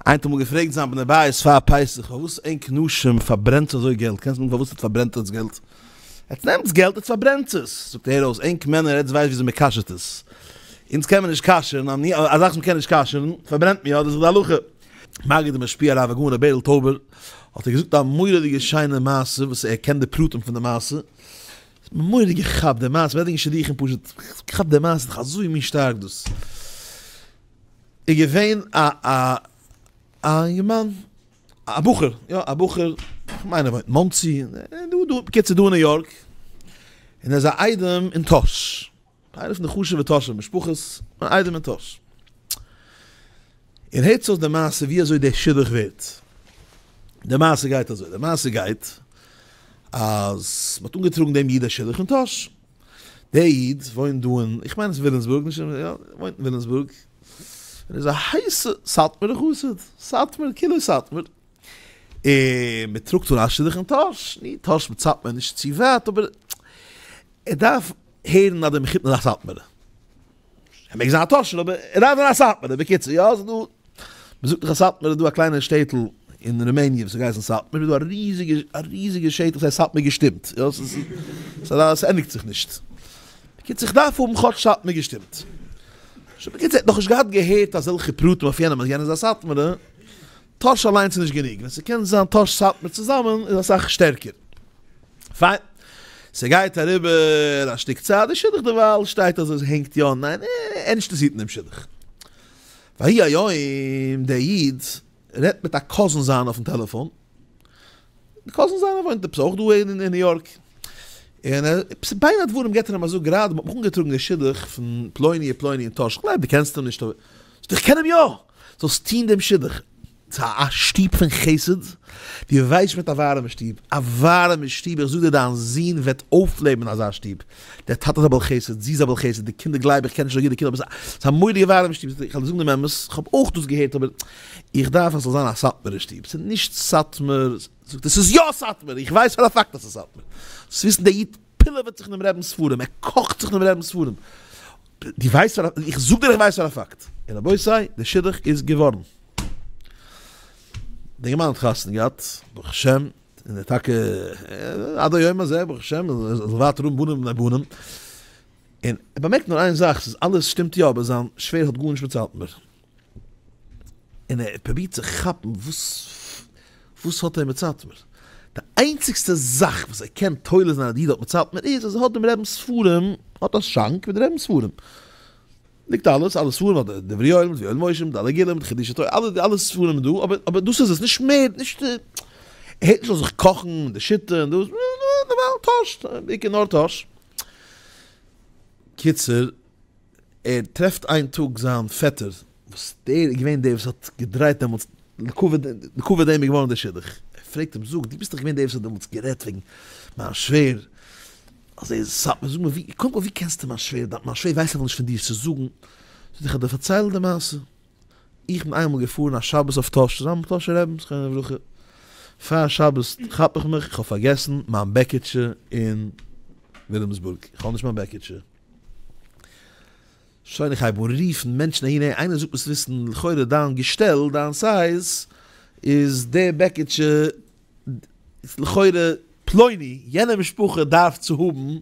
איינער האט אמאל געפרעגט זיין בני בית פאר פסח פארוואס ענק נשים פארברענטס אזוי געלט קענסט מיין פארוואס עטס פארברענט עטס געלט? עטס נעמטס געלט עטס פארברענטס עס זאגט ער אויס ענק מענער עטס ווייסט וויאזוי מ'קאשערט עס? אונז קען מען נישט קאשערן א זאך וואס מ'קען נישט קאשערן פארברענט מען יא דאס איז די הלכה. מגיד ומשפיע הרב הגאון ר' בערל טויבער האט ער געזאגט א מורא'דיגע שיינע מעשה וואס ער קען די פרטים פון די מעשה מורא'דיג איך כאפ די מעשה מ'רעדט וועגן שידוכים פשוט איך כאפ די מעשה ס'איז דאך אזוי מין שטארק דאס. איז געווען א א א אינגערמאן, א בחור, יא א בחור, כ'מיין ער וואוינט מאנסי, דא דא, בקיצור דא אין ניו יארק, און ער איז א איידעם אין טאהש, איינע פון די חשוב'ע טאהשע משפחות, אן איידעם אין טאהש. און הערטס אויס די מעשה ווי אזוי די שידוך ווערט. די מעשה גייט אזוי, די מעשה גייט אז מ'האט אנגעטראגן דעם איד א שידוך אין טאהש, דער איד וואוינט דא אין, איך מיין עס איז ווילימסבורג, נישט אין, יא, וואוינט אין ווילימסבורג, און איז א הייסע סאטמארע חסיד, סאטמאר, כולו סאטמאר, און מען טראגט אן א שידוך אין טאהש, ני, טאהש מיט סאטמאר איז נישט צו ווייט, אבער ער דארף הערן אז דער מחותן איז א סאטמארע. ער מעג זיין א טאטשער אבער ער דארף זיין א סאטמארער, בקיצור יא ס'דא מען זאגט דאך אז סאטמאר איז דא א קליינע שטעטל אין רומעניע וואס איז געהייסן סאטמאר איז דא א ריזיגע א ריזיגע שטח ס'הייסט סאטמאר געשטימט יא ס'ענדיגט זיך נישט בקיצור איך דארף האבן כאטש סאטמאר געשטימט שוין בקיצור ער האט נאכנישט געהאט געהערט אזעלכע פרטים אויף יענעם אז יענער איז א סאטמארער. טאהש אליינס איז נישט גענוג, ווען ס'קען זיין טאהש סאטמאר צוזאמען איז אסאך שטערקער. פיין. ס'גייט אריבער א שטיק צייט, די שידוך דערווייל שטייט אזוי, ס'הענגט יא און ניין, און ענדשטערס היטן דעם שידוך. ויהי היום, דער איד רעדט מיט א קאזין זיינע אויפן טעלעפאן, די קאזין זיינע וואוינט עפעס אויך דא אין ניו יארק, און בין הדברים געבט ער אים א זאג, גראדע האט מיך אנגעטראגן דער שידוך פון פלוני ופלוני אין טאהש, כ'גלייב דו קענסט אים נישט אבער. איך קען אים יא! זאלסט טון דעם שידוך צו א שטוב פון חסד, דו ווייסט מיט א ווארעמע שטוב, א ווארעמע שטוב, איך זאג דיר דיין זון וועט אויפלעבן אזא שטוב, דער טאטע איז א בעל חסד, זי איז א בעל חסד, די קינדער גלייב איך קען נישט אזוי גוט די קינדער אבער ס'איז א מורא'דיגע ווארעמע שטוב, איך וועל זאגן דעם אמת, איך האב אויך דאס געהערט אבער איך דארף אז ס'זאל זיין א סאטמארע שטוב, ס'איז נישט סאטמאר, זאגט ער ס'איז יא סאטמאר, איך ווייס פאר א פאקט אז ס'איז סאטמאר, דאס וויסן די אידן. פילעוועט זיך אינעם רעבינ'ס ספרים, ער קאכט זיך אינעם רעבינ'ס ספרים. דו ווייסט פאר א, איך זאג דיר איך ווייס פאר א פאקט. און רבותי, דער שידוך איז געווארן. די אינגערמאן האט חתונה געהאט, ברוך השם, און ער טאקע, עד היום הזה, ברוך השם, ער זאל ווייטער האבן בנים בני בנים. און ער באמערקט נאר איין זאך, ס'איז אלעס שטימט יא, אבער זיין שווער האט גארנישט מיט סאטמאר. און ער האט פרובירט צו כאפן וואס וואס האט ער מיט סאטמאר. די איינציגסטע זאך וואס ער קען תולה זיין אז די איד האט מיט סאטמאר איז אז ער האט דעם רעבינ'ס ספרים, ער האט א שאנק מיט די רעבינ'ס ספרים. ליגט אלעס, אלע ספרים אדער דברי יואל מיט יואל משה מיט אלע גלים מיט חידושי תורה, אלע אלע ספרים איז דא, אבער אבער דאס איז עס, נישט מער, נישט ער הערט נישט אויף זיך קאכן און די שיטה און דאס, נארמאל טויש, בעיקר נאר טויש. קיצור. ער טרעפט איין טאג זיין פעטער וואס דער איז געווען דער וואס האט געדרייט דעמאלטס לקבוע דעם איז געווארן דער שידוך, ער פרעגט אים זאג דו ביסט דאך געווען דער וואס האט דעמאלטס גערעדט וועגן מיין שווער אז ער איז סאטמאר זאג מיר קודם כל ווי קענסטו מיין שווער מיין שווער ווייסט נאכנישט פון דיר צו זאגן זאגט ער איך וועל דיר פארציילן די מעשה איך בין איינמאל געפארן א שבת אויף טאהש צוזאמען מיט טאהשע רעבין זכרונו לברכה פאר שבת כאפ איך מיך איך האב פארגעסן מיין בעקיטשע אין וויליאמסבורג איך האב נישט מיין בעקיטשע. שוין איך הייב אן רופן מענטשן אהין העי איינער זאגט מוזט וויסן לכאורה דיין געשטעל דיין סייז איז די בעקיטשע לכאורה פלוני יענע משפחה דארף צו האבן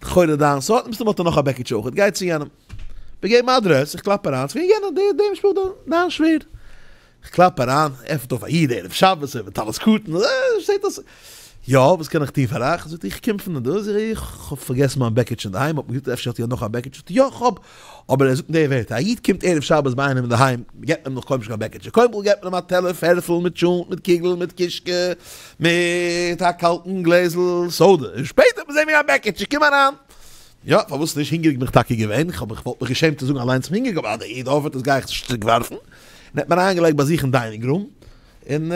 לכאורה דיין סארט מסתמא האט ער נאך א בעקיטשע אויכעט גיי צו יענעם. מיר געבן אדרעס איך קלאפ אריין ס'געווען יענער די די משפחה דיין שווער כ'קלאפ אריין, עפנט אויף א איד ערב שבת, ער מיט טלית קטן, אה, שטייט אויס. יא, וואס קען איך טון פאר אייך? זאגט ער, איך קום פון דא, זאג איך, כ'האב פארגעסן מיין בעקיטש אינדערהיים, האט מען געזאגט אפשר האט איר נאך א בעקיטש, זאגט ער, יא כ'האב, אבער ער זאגט נישט די ווערטער, א איד קומט ערב שבת ביי איינעם אינדערהיים, מ'געבט אים נאך קוים נישט קיין בעקיטשע, קודם כל געבט מען אים א טעלער פערטל מיט טשולנט, מיט קוגל, מיט קישקע, מיט א קאלטן גלעזל סאדע, און שפעטער וועט מען זען וועגן א בעקיטשע, קום אריין. יא, פארוואס נישט? הונגעריג בין איך טאקע געווען, איך האב כ'וואלט מיך געשעמט צו זאגן אליינס כ'בין הונגעריג אבער אז דער איד ארבעט עס גיי איך עס נישט צוריקווארפן, און ער האט מיר אריינגעלייגט ביי זיך אין דיינינג רום, און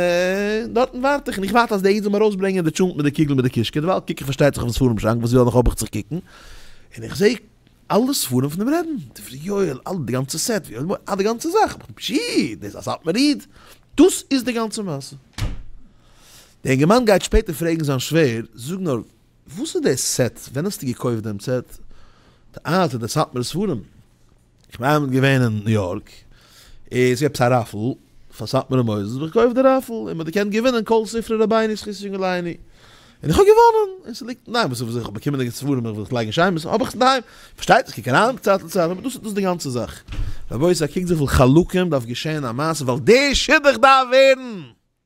דארטן ווארט איך און איך ווארט אז דער איד זאל מיר ארויסברענגען די טשולנט מיט די קוגל מיט די קישקע, דערווייל קוק איך פארשטייט זיך אויפן ספרים שאנק וואס יא נאך האב איך צו קוקן, און איך זעה אלע ספרים פון דעם רעבין, דברי יואל, אלע די גאנצע סעט, אה די גאנצע זאך, איך בין פשי, דאס איז א סאטמאר איד, דאס איז די גאנצע מעשה. די אינגערמאן גייט שפעטער פרעגן זיין שווער, זאג נאר, וואס איז דער סעט? ווען האסטו געקויפט דעם סעט? די אלטע די סאטמאר ספרים? איך בין איינמאל געווען אין ניו יארק איז געווען עפעס א ראפעל פאר סאטמארע מוסדות האב איך געקויפט די ראפעל און מ'האט געקענט געווינען כל ספרי רבינו זכות יונגעלייני און איך האב געוואנען און ס'ליגט אינדערהיים וואס איך האב באקומען די ספרים איך וויל זיך לייגן שיין האב איך עס אינדערהיים פארשטייט זיך קוק אריין צייט לצייט אבער דאס איז דאס די גאנצע זאך רבותי קוקט וויפיל חלקים דארף געשען א מעשה ווייל דער שידוך דארף ווערן.